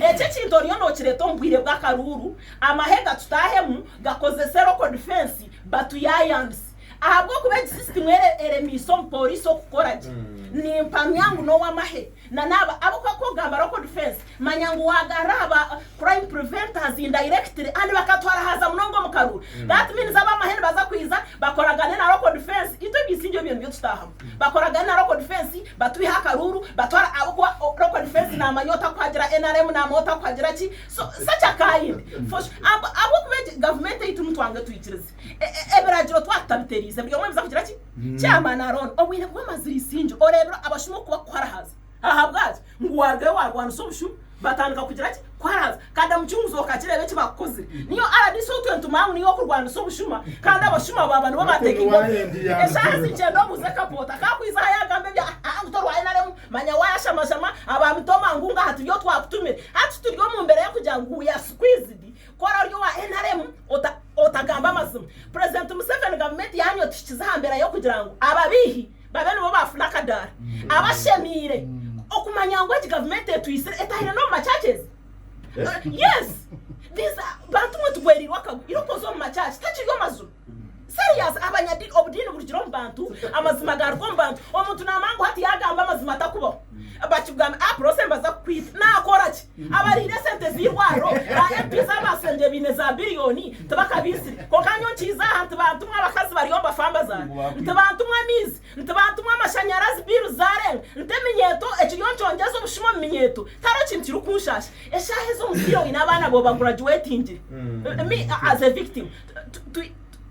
Eki ekintu oriyo nokireta omu bwire bw'akaruuru, amahega tutaahemu gakozese locked fence batuyaayaanise ahabw'okuba egi sisitimu eremiise omu pooriisi okukora gye. Nimpamya ngu n'owamahe na n'aba abu okuba kugamba locked fence manya ngu waagarura aha ba crime preventers indirectly and bakatwara haza munonga omu karuuru. That means abamahe nibaza kwiza bakoragane na locked fence itwe eby'eisingye ebyo nibyo tutaahamu. Bakoragana na local defence batwiha akaruuru batwara ahabwokuba local defence namanya otakuhagira nrm namanya otakuhagira ki so sakya kayindi for sure ahabwokuba egi gavumenti eitu nitwange twikirize ebiragiro twaba tutabiteriize buri omwe abiza kugira ki chairman aroona obwine kuba mazirisingi oreebire abashuma okubakuharahaza. Ahabwaki? Ngu waarugayo waarwanisa obushu batandika kugira ki? Kwaranzya. Kanda mucunguzi okakireeba eki bakukozire. Niyo rdc ou twentuma ngu niyo okurwanisa obushuma kandi abashuma baaba nibo baateeka enkondo. Eshaaha zigyenda obuuze Kaboota akaakwija aha yaagamba ebya haa ngu tori owa nrm manya waayashamashama aba mitoma ngu aha turi ou twakutumire. Hati turi omu mbeera y'okugira ngu we are squeezed ku oraba ori owa nrm ota otagambe amazima. Purezidenti Museveni gavumenti yaanyu etuhikize aha mbeera y'okugira ngu ababeihi, babe nibo baafuna akadaara aba ashemeire okumanya ngu egi gavumenti etwitsire etahire n'omu machurches yes these are- bantu mwe tugwereirwe akagu irikukoza omu machurch tekiri omazuru serious abanyadi obudiini burugire omu bantu amazima gaaruga omu bantu omuntu naamanya ngu hati yaagamba amazima atakubaho bakigamba ah prossy mbaza kukwita naakora ki Abarihire esente z'eirwariro, ba MP z'amasengye baine za biriyoni tibakabiitsire kwonka nyowe nkiize aha nti bantumwa abakazi bari omu bafamba zaange, nti bantumwa amaizi, nti bantumwa amashanyarazi biiru zaarenga, nti eminyeeto ekiriyo nikyongyeza obushuma omu minyeeto tihariho kintu kirikunshaasha. Eshaaha ezi omuzaire oine abaana booba guragyuwetingire, me as a victim,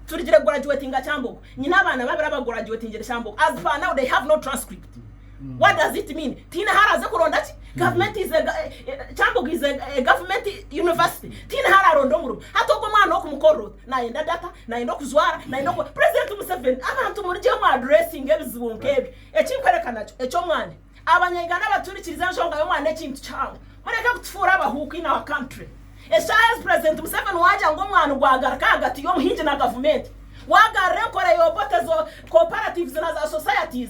turigire kuguragyuwetinga Kyambogo, nyine abaana babiri abaguragyuwetingire Kyambogo, as per now they have no transcript. What does it mean? Tihaine ahu araaze kuronda ki? Gavumenti is a Kyambogo is a government university. Tihaine ahu araaronde omurimo. Hati ogwo omwana okumukorera ota? Naayenda data, naayenda okujwara, naayenda oku President Museveni, abantu murigye mu addressinga ebizibu nk'ebyo. Eki nkworeka nakyo, eky'omwana. Abanya Uganda abatuhurikiriza enshonga y'omwana ekintu kihango. Mureke kutufuura abahuuku in our country. Eshaaha ezi President Museveni waagira ngu omwana ogwagaruka ahagati y'omuhingi na gavumenti, waagarura enkora y'Obote, zo cooperatives na za societies,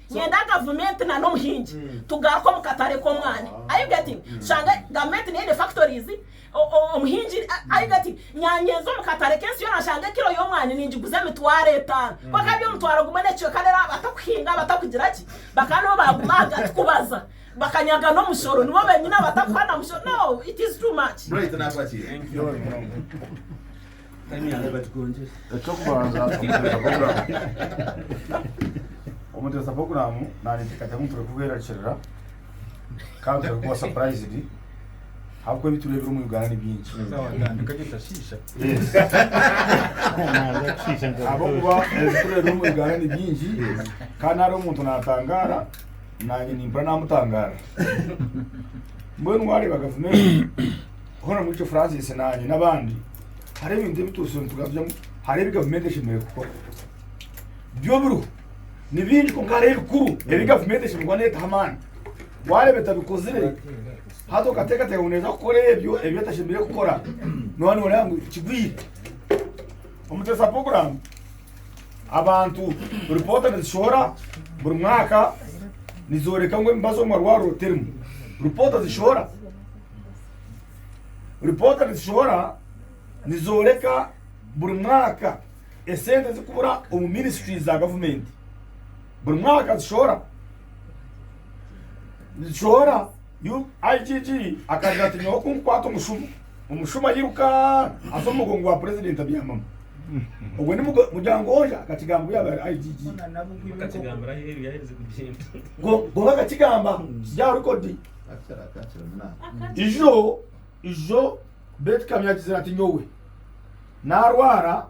Nyenda gavumenti na n'omuhingi tugaruke omu katare k'omwani, are you getting? Tushange gavumenti neine factories, omuhingi, are you getting? Nyanye nze omu katare k'ensi yoona nshange kiro y'omwani ningiguza emitwaro etaano, ku akaba ari omutwaro gumwe n'ekicweka reero abo abatakuhinga, abatakugira ki, bakaba nibo baguma ahagati kubaza, bakanyaga n'omushoro, nibo benyine abatakuha na mushoro, no, it is too much. Eky'okubanza omuteesa puroguraamu naareetekateeka ngu tureke kwerarikirira kandi tureke kuba sapurayizidi ahabw'okuba ebi tureebire omu Uganda ni bingi. Ahabw'okuba ebi tureebire omu Uganda ni bingi kandi hariho omuntu naatangaara naanye nimpurira naamutangaarira. Mbwenu waareeba gavumenti hoona omuri ekyo Francis naanye n'abandi hariho ebintu ebi tubatsire nitugambyamu hariho ebi gavumenti eshemereire kukora byo biriho ni bingi kwonka hariho ebikuru ebi gavumenti eshemereire kuba neetaho amaani waareeba etabikozire hati okateekateeka ngu neeza kukora ebyo ebi etashemereire kukora nooba nooreeba ngu kigwire omuteesa puroguraamu abantu ripoota nizishohora buri mwaka nizooreka ngu emibazi omu marwariro terimu ripoota zishohora Ripoota nitushohora nizooreka buri mwaka esente zikubura omu ministries za gavumenti. Buri mwaka tushohora nitushohora yu- IGG akagira ati nyowe kunkukwata omushumo omushumo ayiruka aza omu mugongo gwa purezidenti abyamamu ogwo ni mugo- muryango oja akakigamba obu yaaba ari IGG Bakakigambira aheeru yaaherize kugenda. Go- gonka akakigamba kiri aha rekodi ijo ijo beitu kamya agizire ati nyowe narwara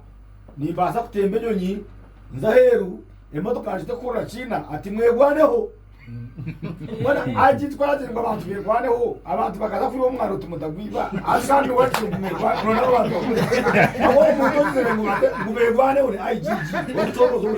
nimbaasa kutemba enyonyi nze aheeru emotoka ngite kuhurira kiina ati mwegwaneho bona agi twagire ngu abantu begwaneho abantu bakaza kwiba omwana oti mutagwiba ati kandi wagire ngu mwegwaneho nona abantu aho omuntu ogizire ngu bate- ngu begwaneho ni igg omucoorozi omu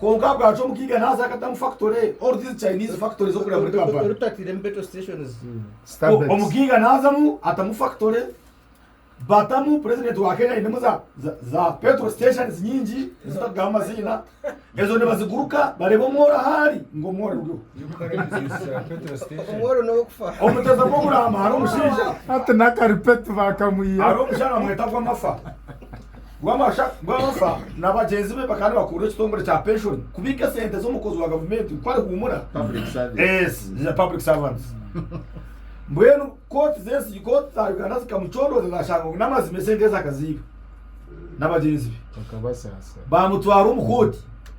Kwonka bwacya omukiga naza akata omu factory or these Chinese factories okureba muri Kampala. Orutatiremu petrol stations. Starbucks. Omukiga nazamu atamu factory batamu president wa Kenya ainemu za za za petrol stations nyingi ezitakugamba amaziina ezo nibaziguruka bareba omworo ahari ngu omworo guriho. Omworo n'okufa. Omuteza gw'okuramba hariho omushaija Hati n'akaripetu bakamwihaho. hariho omushaija bamweta Gwamafa Rwamasha Rwabasa na bagyenzi be bakaba nibakurura ekitongore kya penshoni kubiika esente z'omukozi wa gavumenti ngu ku ari huumura Public Servants. Mbwenu kooti z'ensigi kooti za Uganda zikamucondooza zaashanga ngu n'amazima esente ezi akaziiba na bagyenzi be. Baamutwara omu kooti.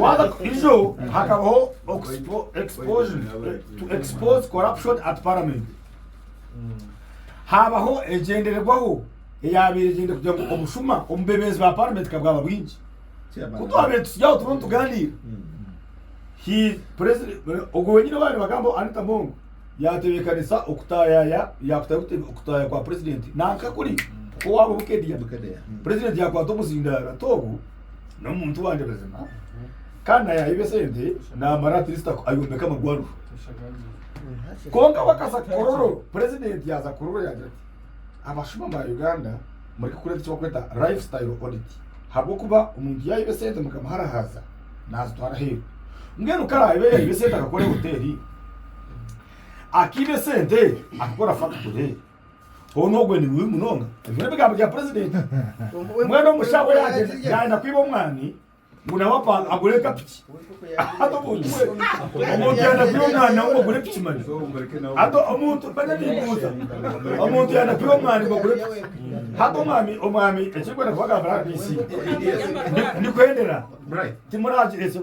Waza kukizo hakabaho exposure to expose corruption at parliament habaho egyendererwaho eyabaire egyende kugira ngu obushuma omubebeezi ba parliament kabwaba bwingi kutwabire tusigaho turiho nituganira ogwo wenyine owabaire nibagamba anita mongo yatebekanisa okutayaya yakutayo okutaya kwa president nankakuri kuko waba obukedea president yakwata omuzindaaro ati ogu n'omuntu wangye mazima kandi naye yaayiba esente naamara atleast aku- ayombeke amarwariro kwonka we akaza kororo purezidenti yaaza kororo yaagira ati abashuma ba uganda mureke kureeta eki bakweta life style audit habw'okuba omuntu yaayiba esente mukamuharahaaza naazitwara aheeru mbwenu ku araabe yaayiba esente akakora hoteeri akaiba esente akakora fakiture Hoona ogwe ni bubi munonga. Ebyo n'ebigambo bya purezidenti. Mbwenu omushaho yaagenda yaayenda kwiba omwani ngu nawe apa agure ekapiki. Hati omuntu we omuntu yaayenda kwiba omwani nawe ngu ogure piki mani. Hati omuntu mbwenu nimbuuza omuntu yaayenda kwiba omwani ngu ogure piki. Hati omwami omwami ekirikwenda kubagambira RDC ndikuhendera timuraagira ekyo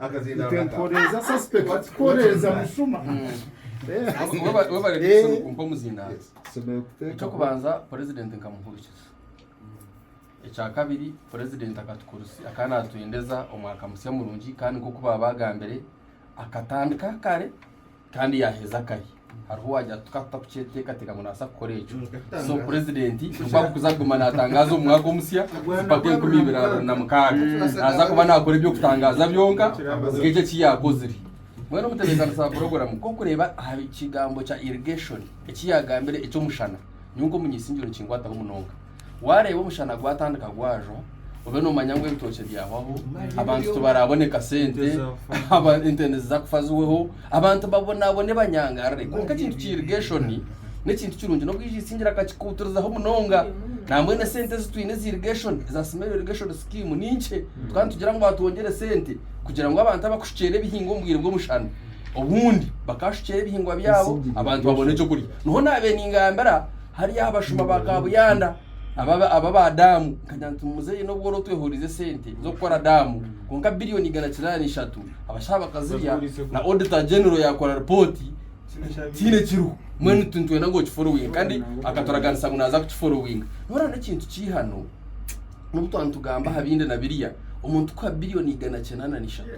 akazinda Ite rurata nkoreza suspect What- what koreza is that? musuma. Eh. Weba- webare Eh. Dickson kumpa omuzindaaro Yes. Tusemere kuteekaho. ekyokubanza purezidenti nkamuhurikiza ekyakabiri purezidenti akatukurusi akaba natwendeza omwaka musya murungi kandi nkoku baaba bagambire akatandika kare Kandi yaheza akahi? Hariho owagira ati tukaba tutakukyetekateeka ngu naabaasa kukora ekyo. So Purezidenti nikwo arikuza kuguma naatangaaza omu mwaka omusya empaka enkumi ibiri abiri na mukaaga. Naaza kuba naakora eby'okutangaaza byonka nk'ekyo eki yaakozire. Mbwenu omutebeekanisa wa puroguraamu nk'okureeba aha kigambo kya irrigation eki yaagambire eky'omushana, nyowe nk'omunyaisingye nikinkwataho munonga. Waareeba omushana gwatandika gwajwa, obe noomanya ngu ebitookye byahwaho, abantu tibaraabone kasente, aba- ente niziza kufa ziweho, abantu babonaabone banyangarire. Kwonka ekintu kya irrigation n'ekintu kirungi n'obu yaija esingira akakikuutirizaho munonga. Nambwenu esente ezi twine eza irrigation, eza Scenario Irrigation Scheme ni nkye. Tukaba nitugira ngu atwongyere sente kugira ngu abantu abakushukyera ebihingwa omu bwire bw'omushana, obundi bakashukyera ebihingwa byabo abantu babone ekyokurya. Niho naabaire ningambira Hariyo abashuma ba kabuyanda aba aba ba daamu nkagira nti muzeeyi n'obu wari otwehurize sente z'okukora daamu kwonka biliyoni igana kinaana na ishatu abashaho bakazirya na auditor general yaakora ripooti tihaine kiriho mbwenu tu- nitwenda ngu okiforowinge kandi akaturaganisa ngu naaza kukiforowinga noraana ekintu kiihano N'obu twaba nitugamba aha bindi na biriya, omuntu kuha biliyoni igana kyenda na ishatu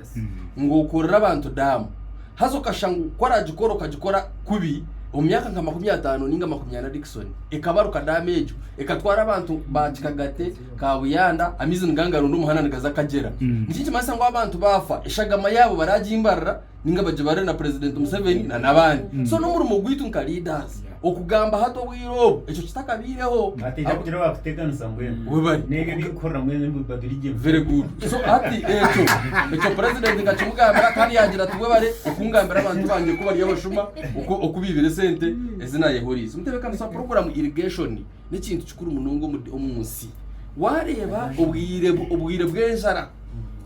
ngu okorere abantu daamu, haza okashanga ku aragikora okagikora kubi omu myaka nka makumi ataano ninga makumi ana Dickson ekabaruka daamu egyo ekatwara abantu ba Kikagate, Kabuyanda, amaizi nigangarunda omuhanda nigaza Kagyera. Niki nikimanyisa ngu abantu baafa eshagama yaabo baragimbarira. ninga bagibare na president Museveni na nabandi mm. so nomurimo gwitu nka leaders yeah. okugamba hati obwire obu ekyo kitakabaireho ateija kugira wakuteganisa mbwenu mm. webari nebyo bikukorera mwene mubadurije very good so hati ekyo ekyo president nka kimugambira kandi yagira ati webare okungambira abantu banje ko bari abashuma okubibire sente mm. ezina yehorize mutebekanisa program irrigation n'ekintu kikuru munonga omu nsi. Waareeba obwire bw'enjara,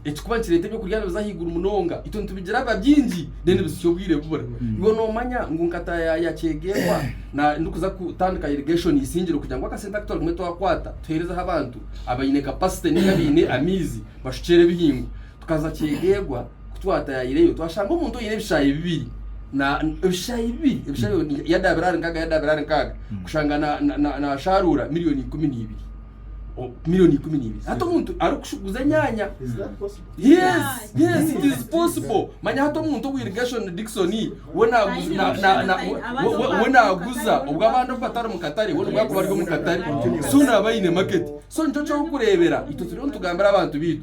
ekirikuba nikireeta eby'okurya nibiza ahaiguru munonga, itwe nitubigira biba bingi reero nibisisha obwire bubura. Iwe noomanya ngu nka taayaaya kyeegairwa ndikuza kutandika irrigation isingire kugira ngu akasente aku twarugamu twakwata tuheerezeho abantu abaine capacity nainga abaine amaizi bashukyere ebihingwa. Tukaza kyegeegwa ku twatayaireyo twashanga omuntu oine ebishaayi bibiri na ebishaayi bibiri ebishaayi mm. yadaabira ahari nkaaga yadaabira ahari nkaaga mm. kushanga naashaaruura miliyoni ikumi n'ibiri miliyoni ikumi n'ibiri hati omuntu arikuguza enyaanya yes yes it is possible manya hati omuntu owa irrigation dixon we naaguza obwo abandi obu batari mu katare we nibwakuba ari omu katare so naaba aine market so nikyo ky'okureebera itwe turiyo nitugambira abantu baitu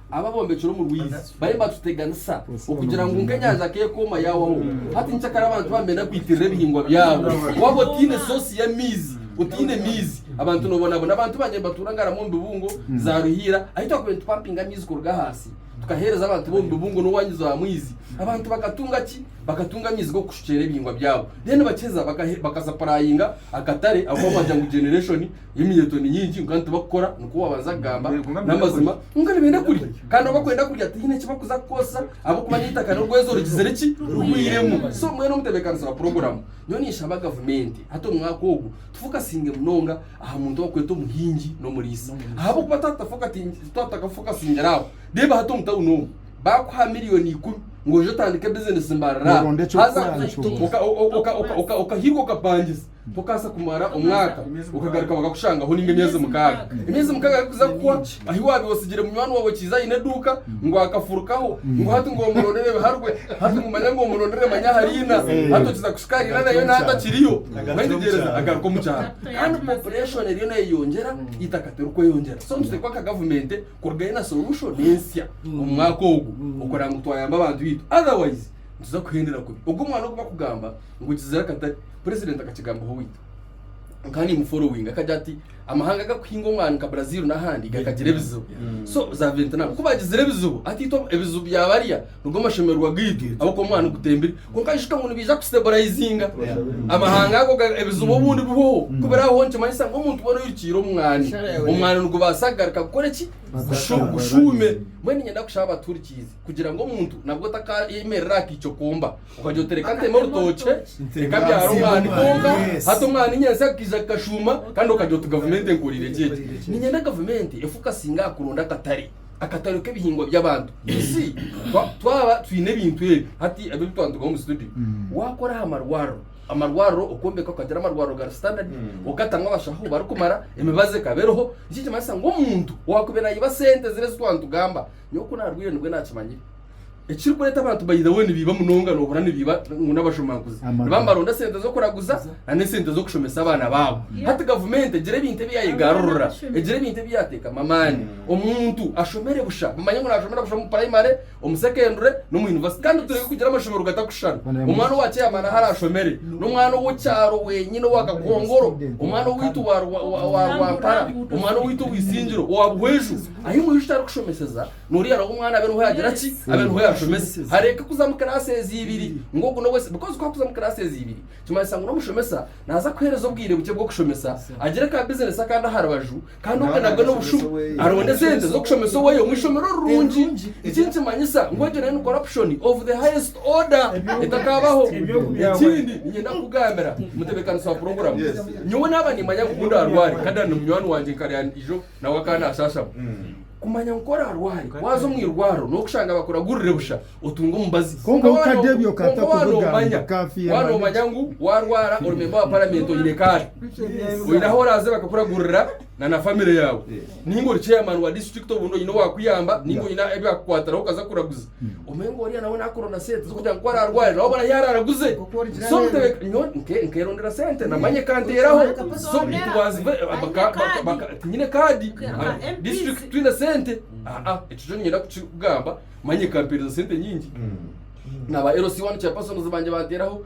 Abo abombekire omu rwizi bariyo nibaatuteganisa okugira ngu nka enyanja ku ekooma yaahwaho, hati nikyo kare abantu baamire n'okwitirira ebihingwa byabo. Waaba otaine soosi y'amaizi, otaine maizi, abantu noobonabona. Abantu bangye nibatuura ngaro ab'omu bibungo, za Ruhiira, ahi twakubaire nitupampinga amaizi kuruga ahansi tukaheereza abantu b'omu bibungo n'owaanyiza owa maizi. Abantu bakatunga ki? Bakatunga amaizi g'okushukyera ebihingwa byabo. Reero nibakiheza bakasapurayinga akatare ahabw'okuba nibagira ngu generation, Eminyeeto ni mingi kwonka nitibakukora nikwo waabanza kugamba n'amazima kwonka nibenda kurya kandi obu barikwenda kurya tihaine eki barikuza kukoresa ahabw'okuba n'eitaka n'orwezo rugizire ki? Rugwiremu. So mbwenu omutebeekanisa wa puroguraamu nyowe ninshaba gavumenti hati omu mwaka ogu tufokasinge munonga aha muntu ou barikweta omuhingi n'omuriisa ahabw'okuba twaba tutakafokasingire aho reeba hati omu tauni omu baakuha miliyooni ikumi ngu oje otandike bizinesi mbarara haza okahika okapangiza Okaasa kumara omwaka, okagaruka bakakushangaho nainga emyezi mukaaga. Emyezi mukaaga garikuza kuhwa, ahi waabaire otsigire munywani waawe okiize aine eduuka ngu akafurukaho ngu hati ngu omurondere ebiharwe, hati ngu manya ngu omurondere manya aha riina, hati okiza kushuka riina nayo naaba atakiriyo. Mwetegyereze, agaruka omu kyaro. Kandi population eriyo neeyeyongyera, eitaka tirikweyongyera. So nituteekwa nka gavumenti kuruga yo na solution ensya omu mwaka ogu, okureba ngu twayamba abantu baitu. Otherwise nituza kuhendera kubi. Ogu omwana ogu barikugamba. ngu kizira katari president akakigambaho waitu nkaba nimu following akagira ati amahanga agakuhinga omwani nka Brazil n'ahandi gakagira ebizibu Mm. so za Vietnam ku bagizire ebizibu ati itwe ebizibu bya barya nigo mashemererwa gaitu ahabw'okuba omwani gutembire kwonka nshusha ngu nibaija kustabulayizinga Yeah. amahanga ago ga- ebizibu obundi bihoho Mm. kubiraho nikimanyisa ngu omuntu boona oirukire omwani Shara yawe. omwani nigubaasa kugaruka kukora eki Kushu- kushuume mbwenu niinyenda kushaba abaturikirize kugira ngu omuntu nabwo otakayemerera aha kaico komba Okagira oti reka nteme orutookye reka mbyare omwana kwonka hati omwana enyatsya akaija kukashuuma kandi okagira oti gavumenti enkoreire gye egi. Niinyenda gavumenti efokasinge aha kuronda akatare, akatare k'ebihingwa by'abantu. You see, twaba twine ebintu ebi hati ebi twaba nitugaha omu situdiyo, waakora aha marwariro, amarwariro okombeka okagira amarwariro gari sitandadi, okatamu abashaho barikumara, emibazi ekaba eriho, nikyo nikimanyisa ngu omuntu owaakubaire naiba sente ziri ezi twaba nitugamba, nyowe ku naarwaire nibwo naakimanyire. Ekirikureeta abantu by the way nibiiba munonga nohurira nibiiba ngu n'abajumanguzi niba nibaronda sente z'okuraguza na n'esente z'okushomesa abaana baabo. Hati gavumenti egire ebintu ebi yayegarurira, egire ebintu ebi yateekamu amaani omuntu ashomere busha bamanye ngu nashomera busha omu purayimare, omu sekendure n'omu yunivasite kandi tureke kugira amashomero gatarikushushana. Omwana owa chairman ahu arashomere n'omwana ow'okyaro wenyine owa kakongoro, omwana owaitu wa Rwampara, omwana owaitu ow'eisingiro owa Buhweju ahu imwe ishusho arikushomeseza Noriya aroha omwana abe nuho yagira ki? Abe nuho yashomesa. Hareke kuza omu kiraasi eziibiri ngu ogu n'ow'esiimu. Bikozi ku akuza omu kiraasi eziibiri, kimanyisa ngu n'omushomesa naaza kuheereza obwire bukye bw'okushomesa, agire ka bizinesi akandi aha rubaju, kandi obwe nabwe n'obushuma. Aronde sente z'okushomesa oweye omu ishomero rirungi. Eki nikimanyisa ngu egyo nayo ni corruption of the highest order etakaabaho. Ekindi niinyenda kukugambira, omutebeekanisi wa puroguramu, nyowe naaba niimanya ngu ku ndaarware, nkagana na munywani wangye nkarya eijo, Nawe akaba naashashama. Kumanya ngu ku oraarware, waaza omu irwariro, n'okushanga bakuragurire busha, otunge omubazi. Kwonka Konka waaba wakadebya no- okata kwonka waaba kuvuga ngu noomanya, kafyu waaba emara noomanya ngu waarwara ori memba wa paramenti oine kaadi, oine ahu oraaze bakakuragurira na na famire yaawe. Nainga ori chairman wa disiturikiti obundi oine owaakuyamba nainga oine ebi akukwatiraho okaza kuraguza. omengo oriya nawe nakuronda sente zokugira ngu ku ararware nawe obona yaraara aguze so mutebeka nyowe nke nkerondera sente namanya ekanteraho so nitubanza ive baka- baka- baka- tinyine kaadi Okay, aha aha MPs. disitulikiti twine sente aa ekyo kyo niinyenda kukigamba manya ekampereza sente nyingi naba LC1 chairpersons bangye banteraho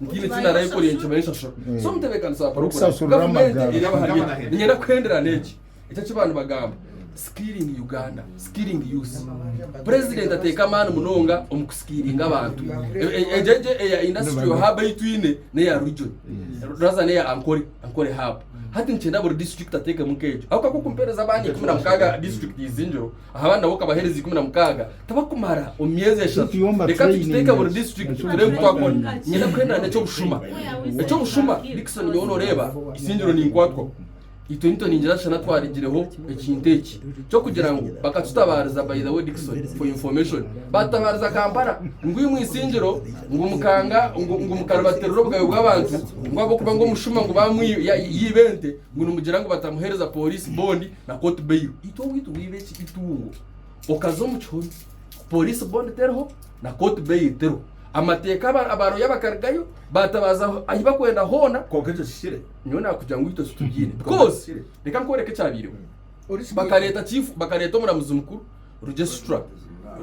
Ntiine eki naarayekorire nikimara enshashura. So omutebeekanisa wa poroguraamu, N'okusasurira gavumenti amagara. eri abahari baitu. Niinyenda kuhendera n'eki, eki eki baanibagamba, Skilling Uganda, Skilling Youth. Purezidenti ateeka amaani munonga omu kusikiiringa abantu. E- e- Egyo egyo eya industrial hub ei twine n'eya region. Rather n'eya Ankole, Ankole hub. Hati nikyenda buri disiturikiti ateekemu nk'egyo. Ahabw'okuba ku mpeereza abaana ikumi na mukaaga district izingiro, Ahabw'aha nabo ka baheereza ikumi na mukaaga tabakumara omu myezi eshatu. Reka tukiteeke buri disiturikiti tureebe ebi twakora. Niinyenda kuhendana eky'obushuma. Eky'obushuma, Dickson nyowe nooreeba eisingiro ninkwatwa. Itwe nituningira shana twarigireho ekintu eki. Ky'okugira ngu bakatutabaariza by the way Dickson for your information baatutabaariza Kampala ngu imwe eisingiro ngu mukanga ngu mukaribatirira obugabe bw'abantu ngu ahabw'okuba ngu omushuma ngu baamwiba yaiba ente Ngu nimugira ngu batamuhereza police bond na court bail itwe owaitu bwiba eki itungo okaza omu kihome police bond teriho na court bail teriho amateka aba roya bakarigayo batabaza ahi bakwenda hona Kwonka ekyo kihikire? nyowe nakugira ngu itwe titubyine Kwonka because kihikire? reka nkworeke ekyabireho bakareta chief bakareta omuramuzi mukuru Registrar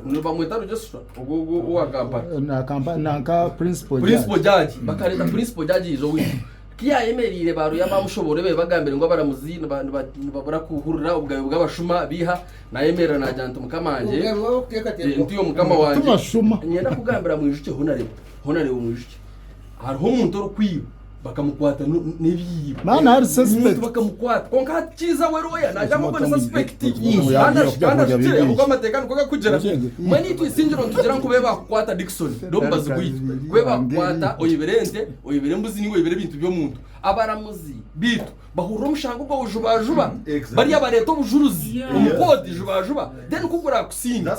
nibamweta registrar ogwo ogwo owa kampani Eh, na kampa- na nka principal principal judge. judge bakareta principal judge yiza owitu kiyayemereire baruya bamushobore be bagambire ngu abaramuzi niba- niba- nibabura kuhurira obugabe bw'abashuma biha nayemerera nagira nti mukama wangye Obugabe bwabo kuteekateeka. eh, ntiyo mukama wangye Tubashuma. nyenda kugambira mwijuki honarebo honarebo mwijuki hariho omuntu orikwiba bakamukwata no n'ebiibo Maana hari omuntu suspect. bakamukwata konka hati kiiza we looya naagira ngu ogwe ni suspect Ii. kandi ashi- kandi ashukire ahabw'oku amateeka nikwo gakugira manya itwe isingiro nitugira ngu ku baakukwata Dickson ri omubazi gwaitu ku baakukwata oibire ente oibire embuzi nainga oibire ebintu by'omuntu abaramuzi baitu bahurira omushango gwawe jubajuba bariya bareeta obujuruzi omu kooti jubajuba then ku gurakusiinge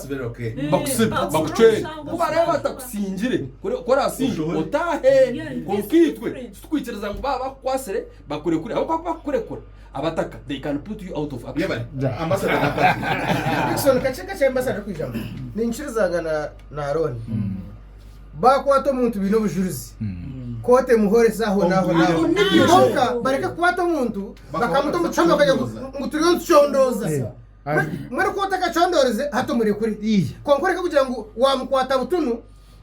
bakusibe bakucwere ku bareeba batakusingire ku orasinge otaahe kwonka itwe titukwikiriza ngu baaba bakukwatsire bakurekure ahabw'okuba ku bakukurekura abataka they can put you out of action. Baakwata omuntu baine obujurizi, kooti emuhoora eza ahonahonaho. Kwonka bareke kukwata omuntu bakamuta omu kihome bakagira ngu ngu turiyo nitucondooza. Mbwenu- Mbwenu ku otakacondoorize hati omurekure. Kwonka oreke kugira ngu waamukwata butunu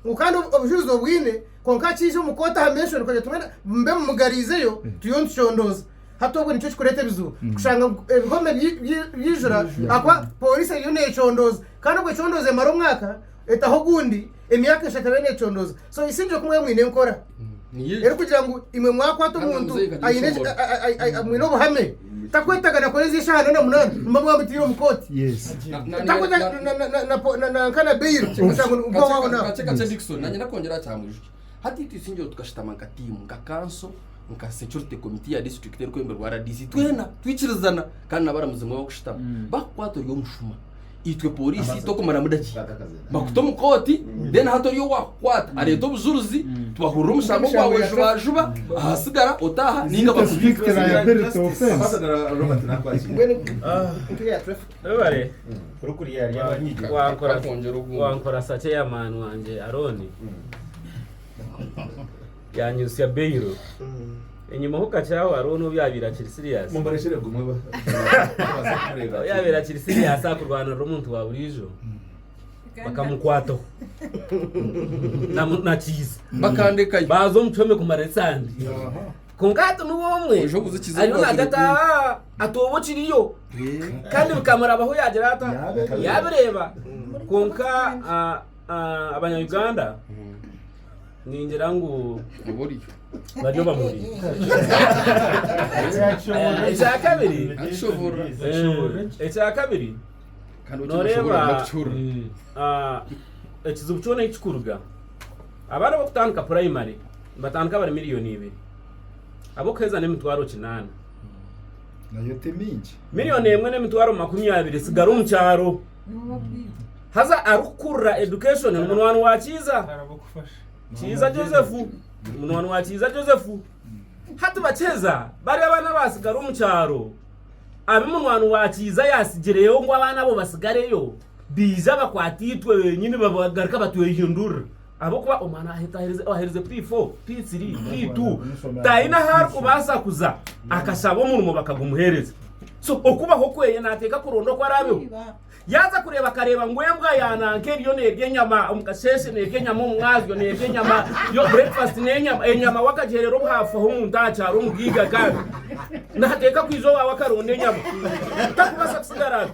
ngu kandi obu- obujurizi obwine kwonka akiija omu kooti aha menshoni kugira ngu mbwenu mube mumugariizeyo turiyo nitucondooza. Hati obwe nikyo kikureeta ebizibu kushanga ngu ebihome byi- byi- byijura ahakuba pooriisi eriyo neecondooza. Kandi obwe econdooza emara omwaka etaho ogundi Emyaka eshatu abe necondoza so isingire ku mwaba mwine enkora eri kugira ngu imwe mwakwata omuntu mwine obuhame takwetaga nakora ezi eshaha nana munana muba mwamutire omu koti nanka na beyiro omusango nigugwa waho naho kakye kakye dikison nanye ndakwongera aha kyamwijuki hati itwe isingiro tukashitama nka tiimu nka kanso nka security committee ya district eri kwemberwa rdc twena twikirizana kandi nabaramuzi nimwo bakushitama bakukwata ori omushuma itwe poriisi tokumaramu dakiika bakuta omu kooti then hati oriya owaakukwata areeta obujuruzi tubahurira omushango gwawe jubajuba ahasigara otaaha ninga Sita bakuhiga strict liability offense. Webare. Wankora- wankora sakye ya man wangye Arooni. Yaanyutsya bairu. Enyima ho kakye aho hariho n'ou yaabaire akiri siriyaasi. Ahu yaabaire akiri siriyaasi aha kurwanirira omuntu wa buriijo, bakamukwataho nakihiza. Bakandekayo. Baaza omu kihome kumara esande. Kwonka hati niwe omwe Oija kuzikiza ariyo omu naagata Afrika. "Ah, ati oba okiriyo kandi bikamurabaho yaagira ata Yaabireeba. yaabireeba kwonka ah, ah, abanya-uganda Ningira ngu bari omu murimo. Ekyakabiri, noreeba ekizibu kyona ahu kirikuruga, abaana ab'okutandika purayimari nibatandika bari miriyoni ibiri, ab'okuheeza n'emitwaro kinaana. Miriyoni emwe n'emitwaro makumi abiri etsigara omu kyaro. haza arikukurira education ni munwani wa kiiza kiiza joseph ni munwani wa kiiza joseph hati bakyeza bari abaana batsigara omu kyaro abi munwani wa kiiza yatsigireyo ngu abaana abo batsigareyo biija bakwata itwe benyini bagaruka batwehindurira Ahabw'okuba omwana owaherize pi fo, pi tiri, pi tu taine ahu arikubaasa kuza, akashaba omurimo bakagumuheereza. So okubaho kweye naateeka kuronda oku araabeho. Yaaza kureeba akareeba ngu embwa ya nanka eriyo neerya enyama omu kasheeshe, neerya enyama omu mwazyo, neerya enyama, yo bureekifasiti n'enyama, enyama we akagiherera obuhaafu aho omu ntaha kyaro omu bwiga kandi naateeka kwija owaawe akaronda enyama. Tarikubaasa kusigara ari.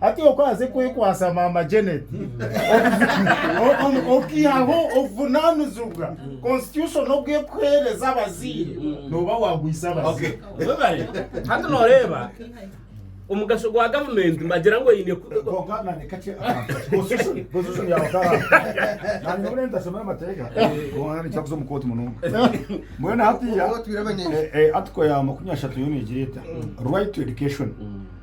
hati okwaze kwekwasa maama janet okihaho obuvunanizibwa constitution obwekuhereza abazaire noba wagwisa abazaire webare hati noreeba omugasho gwa gavumenti mbagira ngu eine article ya makumi ashatu yo negira eta right to education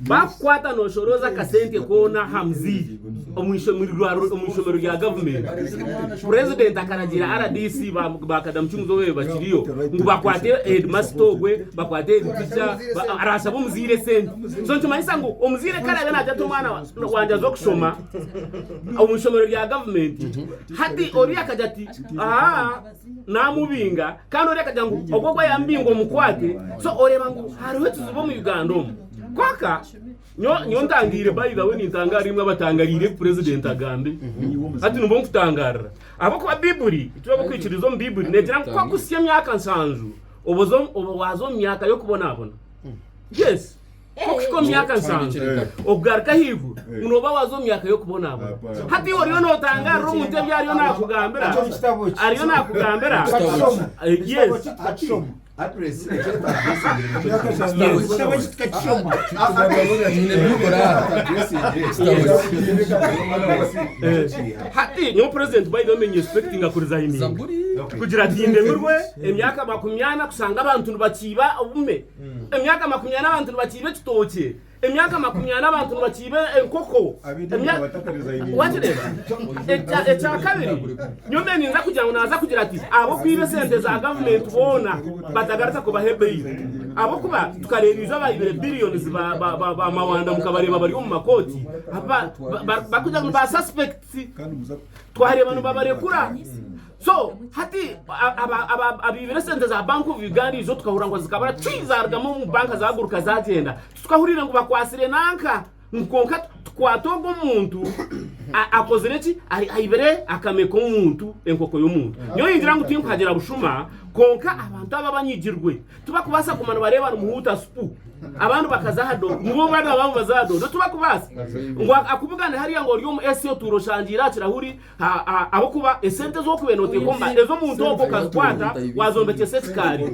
baakukwata nooshorooza akasente koona aha muziigi omu ishomero rya gavumenti, purezidenti akaragira rdc ba ba Kadamu Kimuzobe bakiriyo ngu bakwate heedimasita ogwe, bakwate heeditica, ba- araashabe omuzaire esente. So nikimanyisa ngu omuzaire ku araabe naagye ati omwana wa- wangye aze okushoma omu ishomero rya gavumenti, hati oriya akagira ati aha namubinga kandi ori akagira ngu ogwo ogwo yamubinga omukwate so oreba ngu hariho ekizibu omu Uganda omu kwaka nyowe ntangaire by the way nintangaara imwe abatangariire ebi president agambe hati nimwo nkutangarira ahabwokuba bibuli ekitwaba okwikiriza omu bibuli negira ngu kwaka osya emyaka nsanju oba waza omu myaka y'okubonabona yes Okuhika omu myaka nsanju okugaruka ahaiguru, ngu nooba waaza omu myaka y'okubonabona. Hati iwe oriyo nootangaarira omuntu ebi ariyo naakugambira, ariyo naakugambira, yes. Hati nyowe president by the way mbenga inspectinga ku resigninga kugira ati ndemirwe emyaka makumi ana kushanga abantu nibakiiba obume. Emyaka makumi ana abantu nibakiiba ekitookye, emyaka makumi ana abantu nibakiiba enkoko. Wakireeba? Ekyakabiri, nyowe mbere ninza kugira ngu naaza kugira ati ab'okwiba esente za gavumenti boona batagaruka kubahe beyiro. Ahabw'okuba tukareeba ijo abaibire billions ba mawanda mukabareeba bari omu makooti barikugira ngu ba suspects, twareeba nibabarekura. So hati abaibire esente za Bank of Uganda izo tukahurira ngu zikabura cwii zarugamu omu banka zaguruka zagyenda titukahuriire ngu bakwasire nanka ngu kwonka tukwate ogu omuntu akozire ki aibire akame k'omuntu enkoko y'omuntu mm. nyowe ningira ngu tinkuhagira bushuma kwonka abantu aba banyigirwe tibakubaasa kuma nibareeba nimuhuuta supu abandi bakaza aha dodo nibo bana babo baza aha dodo tibakubaasa ngu akubugane hariya ngu ori omu esi otuura oshangiire aha kirahuri Ahabw'okuba esente ezi orikubaire nooteeka omu mbaata, ezi omuntu ogwo okazikwata waazombekyesa ekikaari,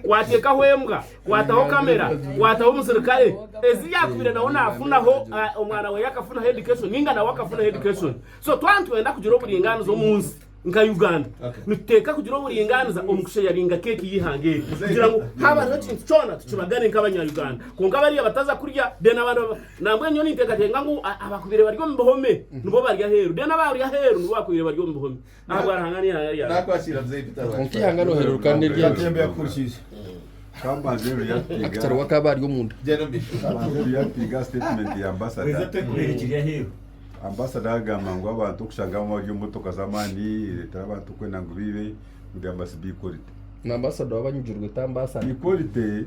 waateekaho embwa, waataho kamera, waataho omusirikare, ezi yaakubaire nawe naafunaho, omwana we yaakafunaho education nainga nawe akafunaho education. So twaba nitwenda kugira oburingaaniza omu nsi nka Uganda, nituteeka kugira oburingaaniza omu kusheyaringa keeki y'eihanga eri kugira ngu haaba hariho ekintu kyona tukibagane nk'Abanya-Uganda. Kwonka bariya bataza kurya, then abandi. Nambwenu nyowe ninteekateeka ngu abakubaire bari omu bihome nibo bari aheeru, reero abari aheeru nibo bakubaire bari omu bihome ahabwa Ruhanga n'eihanga ryangye. Kwonka eihanga noohereruka n'eryaangye. Akitara owa akaaba ari omunda. Ambasada akagamba ngu abantu okushanga bamwe bari omu motoka z'amaani nireetera abantu kwenda ngu baibe ngu they must be equality. Ni ambasada owa abanyigirwe ti ambasada. Equality.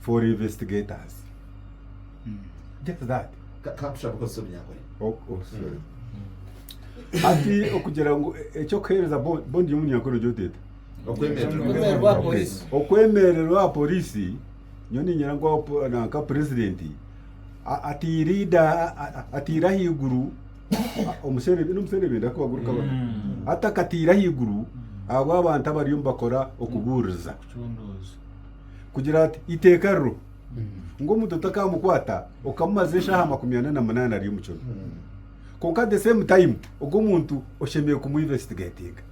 for investigators get that Ka- kakusha kukozesa omunyankore Oh, oh, sorry. ati okugira ngu e- ekyokuheereza bo- bondi y'omunyankore gyoteta okwemererwa Okwemererwa aha polisi. okwemererwa aha polisi nyo ninyira ngu apo- nanka purezidenti a- atiirida a- a- atiire ahaiguru a- omuserebe n'omuserebe ndakuba guri kabona atakatiire ahaiguru ahabw'abantu abariyo nibakora okubuuriza kucundooza kugira ati, Iteeka riro ngu omuntu otakamukwata okamumaza eshaaha makumi ana na munaana ari omu kiro. Kwonka at the same time ogwo omuntu oshemereire kumu investigatinga.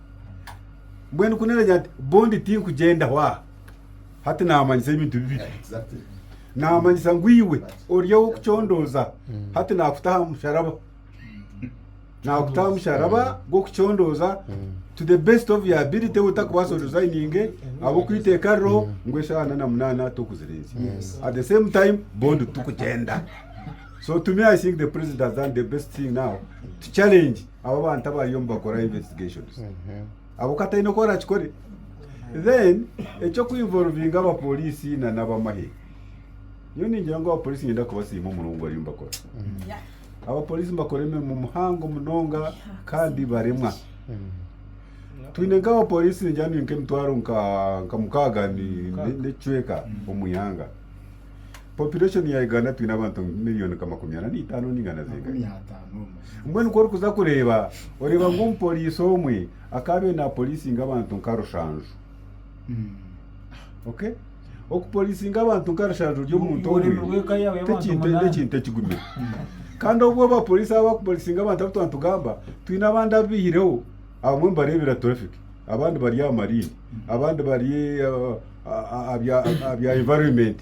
Mbwenu ku naragira nti bond tinkugyendaho aha, hati naamanyisa ebintu bibiri. Naamanyisa ngu iwe ori ow'okucondooza, hati naakuta aha musharaba. Naakutaho omusharaba gw'okucondooza to the best of your ability otakubaasa odesigninge ahabw'okuba iteeka ririho ngu eshaaha ana na munaana tokuzirenzya. At the same time bond tikugyenda. So to me I think the president has done the best thing now to challenge abo abantu abariyo nibakora investigations. Ahabw'okuba ataine oku arakikore. Then eky'okwinvolvinga abapoliisi na n'abamahe, nyowe ningira ngu abapoliisi niinyenda kubasiima omurimo ogu bariyo nibakora. Abapooriisi nibakora emirimo muhango munonga kandi baremwa. Twine nk'abapooriisi ningira ngu nk'emitwaro nka mukaaga n'ekicweka omu ihanga. Population ya Uganda twine abantu miriyoni nka makumi ana n'eitaano nainga na zingahi? Mbwenu ku orikuza kureeba, oreeba ngu omupooriisi omwe akaabaire naaporiisinga abantu nka rushanju. Okay. Okupolisinga abantu nkarisharira ori omuntu Orurimi omwe rw'eka yaawe y'abantu tekintu munana. n'ekintu ekigumire. Kandi obu abapolisi aba bakupolisinga abantu abu twantugamba, twine abandi abaihireho, abamwe nibareebera traffic, abandi bari aha marine, abandi bari ah, ah, ah, ah, bya- ah, ah, bya environment,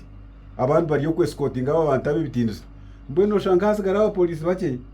abandi bari okwesikotinga abo abantu ab'ebitindisa. Mbwenu oshanga hatsigara abapolisi bakye.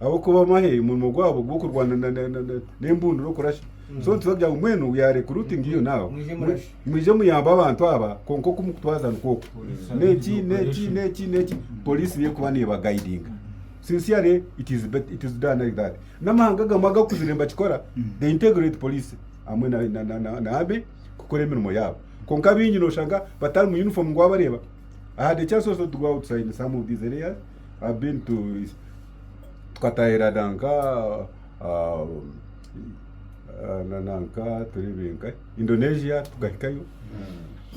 Ahabw'okuba bamahe omurimo gwabo gw'okurwana n'embundura okurasha. So nitubaasa kugira ngu mbwenu we are recruiting you now. Mwije muyambe abantu aba kwonka oku mukutwaza nikwo oku. N'eki n'eki n'eki n'eki Poliisi niyo erikuba neebagaidinga. Sincerely it is it is done like that. N'amahanga agamwe agakuzire nibakikora, they integrate Poliisi hamwe na na Army kukora emirimo yaabo. Kwonka abaingi nooshanga batari mu uniform ngu waabareeba. I had a chance also to go outside in some of these areas. tukatahira nanka Indonesia tukahikayo,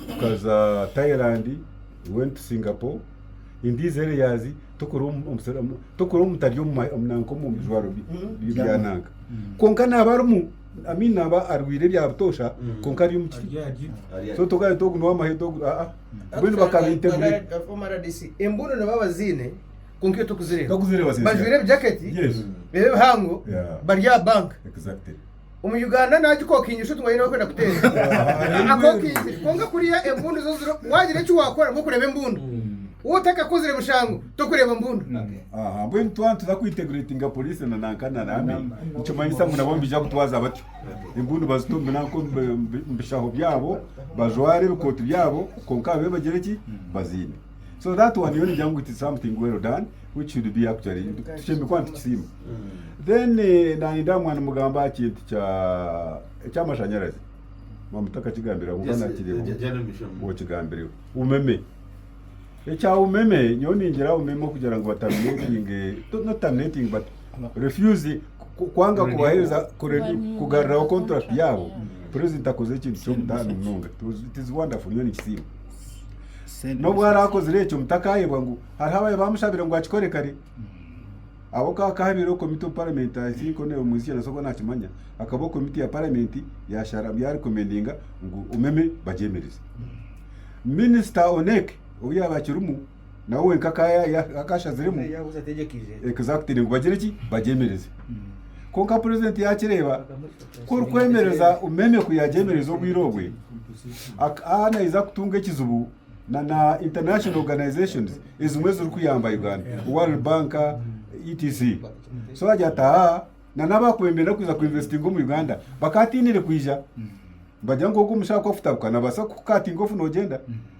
tukaza Thailand, we went to Singapore, in these areas tukora omu taryo nanka omu bijwaro bya nanka kwonka naba arimu i mean naba arwire ebya butoosha kwonka ari omu kiti so tokagamba nti ogu nowamahega ogu. Mbwenu bakabaita ebire. Embunu nabo abaziine kwonka itwe tokuzireeba. Bajwaire ebijaketi biri ebihango bari aha banka. Omu Uganda nagikokingira oshuti ngu aine orikwenda kuteera. Akokingire kwonka kuriya embundu zo ziri wagira eki wakora ngu okureba embundu. Waaba otakakozire mushango tokureeba mbundu. Mbwenu twaba nituza kwintegiretinga poriisi na nanka na Raame nikimanyisa ngu nabo nibaija kutwaza batyo. Empundu bazita omu binanka omu bishaho byabo bajware ebikooti byabo kwonka babe nibagire ki bazine so that one yo nigira ngu it is something well done which should be actually tushembe kuba nitukisiima then eh, naninda aha mwana mugamba aha kintu kya ekyamashanyarazi mamutaka kigambira kuba Yes, nakireeba eh, General Mishamu. okigambireho umeme Ekya umeme nyowe ningira umeme okugira ngu ba terminatinge not terminating but refuse kwanga kubahereza kugaruraho contract yaabo president akoze ekintu ky'omutaano munonga it is wonderful nyowe nikisiima n'obu araakozire ekyo mutakayebwa ngu hariho abaye bamushabire ngu akikore kare abo kahabeire komiti omu parliament i think honorable muhizikye nasoboka nakimanya akabaho komiti ya parliament yashara yarekomendinga ngu umeme bagyemereze Minisita Onek ou yaabaire akirimu nawe wenka akaba ashaziremu ekuza kutaine ngu bagire ki? Bagyemereze. Kwonka purezidenti yaakireeba ku orikwemereza Umeme ku yaagyemereza obwire obwe, akaba naija kutunga ekizibu na na international organizations ezimwe ezirikuyamba Uganda, World Bank etc. So yaagira ati, Haa! na n'abaakubembera n'okuza kuinvestinga omu Uganda bakaatiinire kwija nibagira ngu ogwo omushaho ku afutabuka naabaasa kukukaatinga ofu noogyenda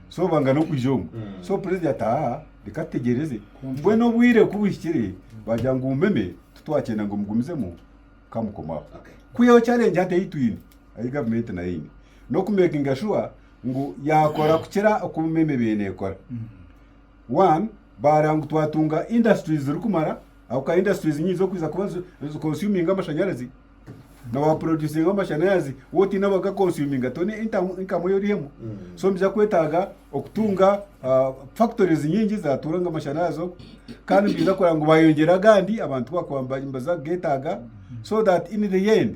so banga n'okwija omu so purezida ati aa reka tutegyereze mbwenu obwire ku buhikire baagira ngu mumeme tu twakyenda ngu mugumizemu ka mukomaho. Ku hariho charengi hati ei twine ei gavumenti nayo eine n'okumeekinga shuwa ngu yaakora kukira oku mumeme ebaire neekora. One, baareeba ngu twatunga indasiturizi zirikumara, ahabw'okuba industries nyingi z'okuza kuba zi consuminga amashanyarazi, na wa producinga amashanyarazi waaba otaine abaka consuminga toine income ei orihemu. So nibiija kwetaaga okutunga factories nyingi zaatuura ngu amashanyarazi oku, kandi nibiija kureeba ngu baayongyera agandi abantu ku baakuba nibaza kugeetaaga so that in the end.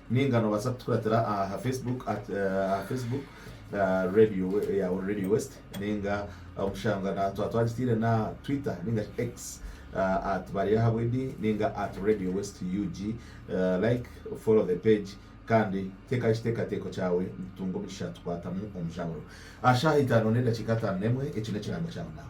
Ninga nobaasa kutukuratira aha Facebook at aha Facebook radio yawe radio west ninga omushanga na twa twagitiire na twitter ninga shi X at baryahabwedi ninga at radio west ug like follow the page kandi teekaho ekiteekateeko kyawe nitutunga omugisha tukwatamu omujaguzo aha shaaha itaano n'edakiika ataano n'emwe eki n'ekirango kyawe naawe.